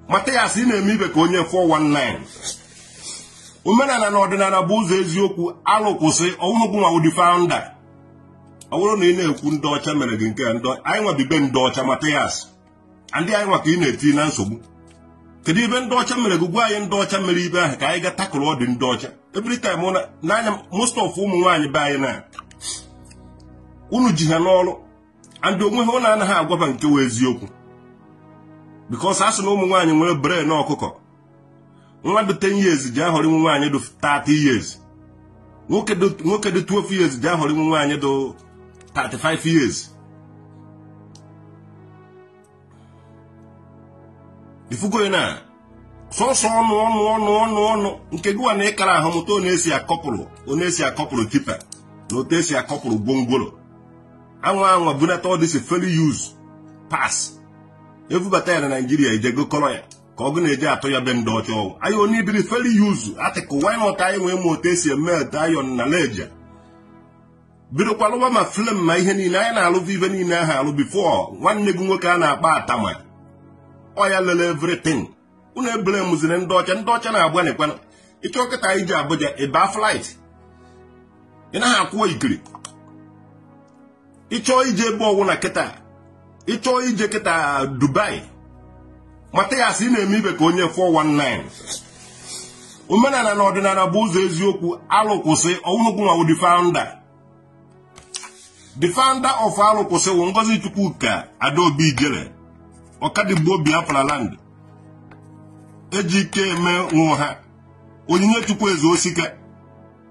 Mathias ị na-eme ibe ka onye 419 omenala na ọdịnala bụ ụzọ eziokwu alụ kwụsị ọ wụnụ gị nwa wụ the founder ọ bụrụ na ị na-ekwu ndị ọcha mere gị nke a ndị anyị nwa bi be ndị ọcha Mathias ndị anyị nwa ka ị na-eti na nsogbu kedu ibe ndị ọcha mere gị gwa anyị ndị ọcha mere ibe ahụ ka anyị ga takụrụ ọdị ndị ọcha every time ọ na- n'anya most of ụmụ nwaanyị be anyị na unu ji ha n'ọrụ and onwe ha unu anaghị agwa ba nke wụ eziokwu because a sị na ụmụ nwaanyị nwere brain ọkụkọ nwa dị 10 years ji ahọrọ nwa nwaanyị dị 30 years nwoke dị 12 years ji ahọrọ nwa nwaanyị dị 35 years ị fụgo na sọsọ ọnụ ọnụ ọnụ ọnụ ọnụ nke gị nwa na ị kara ahụ mụta otu esi akọpụrụ otu esi akọpụrụ tipper na otu esi akọpụrụ gwongworo anwa anwa bunata ọdịsi fairly used parts ebubata ya na naijiria ejego kọrọ ya ka ọgụ na-eji atụ ya be ndị ọcha ọ wụ anyị onye ibiri fairly used article wanyị ọta anyị nwee ma otu esi emelt iron na leja bidokwa lụwa ma frame ma ihe niile anyị na-alụbụ ibe niile ahụ alụ before nwanne gị nwoke a na-akpa atama oya lele everything unu ebule mụziri ndị ọcha ndị ọcha na-agbanịkwana ị chọọ kịta ije Abuja ị ba flight ị naghị akwụ ikiri ị chọọ ije ebe ọ wụna kịta ị chọọ ije kịta Dubai Mathias ị na-eme ibe ka onye 419 omenala na ọdịnala bụ ụzọ eziokwu alụ kwụsị ọ wụnụ gị nwa wụ the founder the founder of alụ kwụsị wụ Ngozichukwuka Adaobi ijele Ọkadigbo Biafra land eji ike eme ụwa Onyinyechukwu eze osike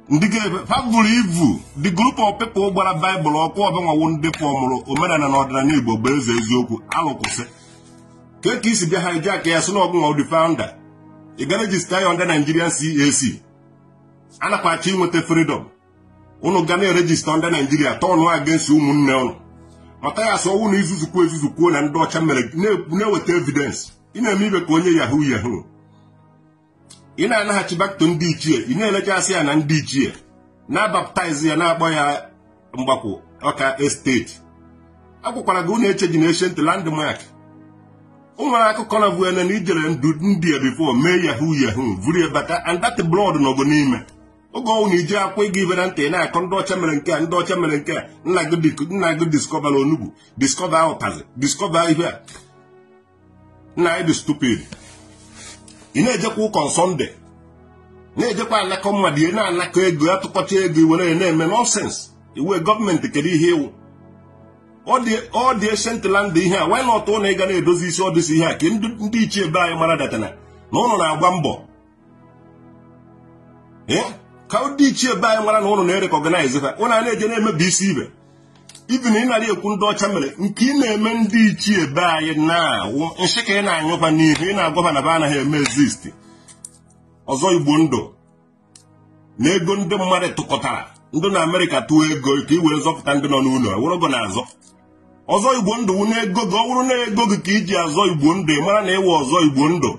ndị ga-ebe ha buru ibu the group of people gbara baịbụl ọkụ ọ be nwa wụ ndị fọmụrụ omenala na ọdịnala igbo bụ eze eziokwu alụ kwụsị ka ka i si bịa hijack ya sị na ọ gị nwa wụ the founder ị ga register ya under Nigerian CAC a nakwa achọ inweta freedom unu ga na-eregister under Naijiria turn against ụmụnne unu Mathias ọ wụ na izuzukwu ezuzu kwuo na ndị ọcha mere na-eweta evidence ị na-eme ibe ka onye yahoo yahoo ị na-anaghachi back to ndị ichie ị na-elechasị ya na ndị ichie na-abaptize ya na-akpọ ya Mgbakwụ Ọka estate akwụkwara gị ụlọ eche ji na ancient landmark o nwere akụkọ na vuene na ijere ndu ndị a before mee yahoo yahoo vuru ya bata and that blood nọgo n'ime oge ọ wụ na ije akwụ ịga ibere ntị ị na-akọ ndị ọcha mere nke a ndị ọcha mere nke a nna gị dik- nna gị diskọbara onugbu diskọba ụtazị diskọba ihe a nna anyị dị stupid ị na-ejekwa ụka na sọnde na-ejekwa anakọ mmadụ ị na-anakọ ego atụkọcha ego iwere ya na-eme nọnsens ịwụ gọọmenti kedu ihe ịwụ ọ dị eshentland ihe a wanyị na ọtụ na ịga na-edozi isi ọdịsi ihe a ka ndị ichie be anyị mara datana na ụnụ na-agba mbọ ka ndị ichie be anyị mara na ụnụ na-erekọgnaịz ha ụnụ a na-eje na-emebisi ibe ibi na ị nara ekwu ndị ọcha mere nke ị na-eme ndị ichie be anyị na ọwụ nsị ka ị na-anyụkwa n'ihu ị na-agwa ba na ba anaghị eme exist ọzọ igbo ndụ na ego ndị mmadụ tụkọtara ndị na amerịka tụọ ego ka ị were zọpụta ndị nọ n'ụlọ iwuru ego na-aza ọzọ igbo ndụ wụ na ego gị ọ wụrụ na ego gị ka iji azọ igbo ndụ ị mara na ịwụ ọzọ igbo ndụ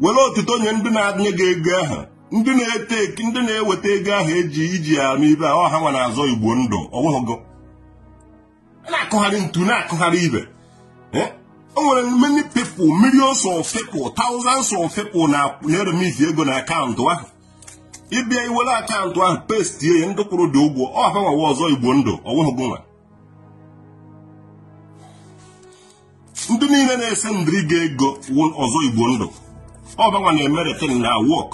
were otuto nye ndị na-enye gị ego ahụ ndị na-ete ndị na-eweta ego ahụ eji iji ya arụ ibe ọ ha nwa na-azọ igbo ndụ ọ wụghị gị na-akụgharị ntu na-akụgharị ibe eh? o nwere many people millions of people thousands of people na-eremiti ego na akaụntụ ahụ ịbịa iwere akaụntụ ahụ pestie ya ndị kwụrụ gị ụgwọ ọ ha nwa wụ ọzọ igbo ndụ ọ wụhụ gị nwa ndị niile na-esendiri gị ego wụ ọzọ igbo ndụ ọ ba nwa na-emere ten na wọk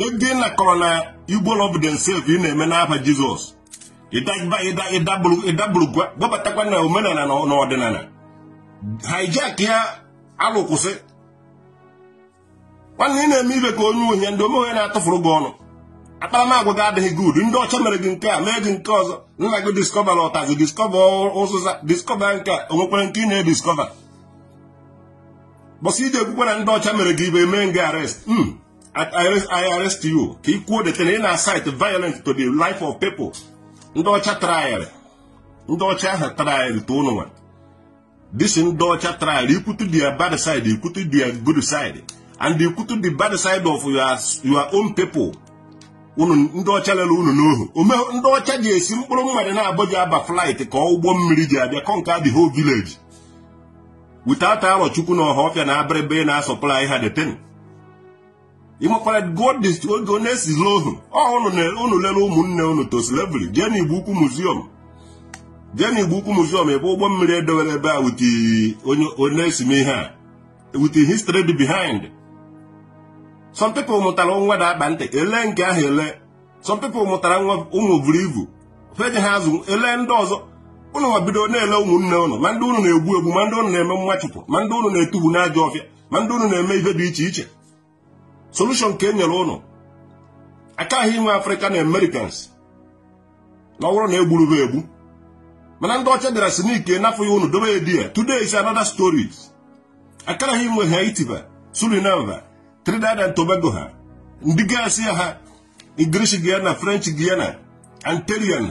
ego ị nakọrọ na igbo love themself ị na-eme n'afa jizọs ịdagba- ịda- ịdabụrụ ịdabụrụ gba- gbabatakwa na omenala na na ọdịnala hijack ya alụkwụsị nwanne ị na-eme ibe ka onye ohi ndị omeghe na-atụfuru gị ọnụ akparamagwa gị adịghị gud ndị ọcha mere gị nke a mee gị nke ọzọ nna gị diskọvara ụtazị diskọva ụzụza diskọva nke a onwekwara nke ị na-ediskọva bọsị ide ekwukwe na ndị ọcha mere gị ibe mee gị arrest hmm, I arrest you ka ị kwuo that na ị na-incite violent to the life of people ndị ọcha trayịrị ndị ọcha ahụ trayịrị to ụnụ nwa this ndị ọcha trayịala ikwutu their bad side ikwutu their good side and ikwutu the bad side of your, your own people ọ ndị ọcha lere unu n'ohu ome ndị ọcha ji esi mkpụrụ mmadụ naabọ ji aba flight ka ụgbọ mmiri ji abịa conquer the whole village without arọ chukwu na ọhafịa na abịrịba ị na-asupply ha the thing ịmakwara godist oge ọ na-esizi ohu ọhụrụ unu lere ụmụnne unu to slavery jee n'igbo ukwu muziọm jee n'igbo ukwu muziọm ebe ụgbọ mmiri edewere ebe a wute onye onesi m ihe a wute history dị behind some people mụtara nwa da akpa ntị ele nke ahụ ele some people mụtara nwa ụmụ buru ibu feje ha azụ ele ndị ọzọ ụnụ nwa bido na-ele ụmụnne ụnụ ma ndị ụnụ na-egbu egbu ma ndị ụnụ na-eme mmachụpụ ma ndị ụnụ na-etubu n'ajọ ọfịa ma ndị unu na-eme ibe dị iche iche solution ka e nyere ụnụ akara ha inwe african americans na ọ wụrụ na e gburu ha egbu mana ndị ọcha bịara si n'ike nafọ ya unu dobe ya there today is another story akara ha inwe haiti ma suriname ma trinidad and tobago ha ndị gasị ya ha english guyana french guyana antillean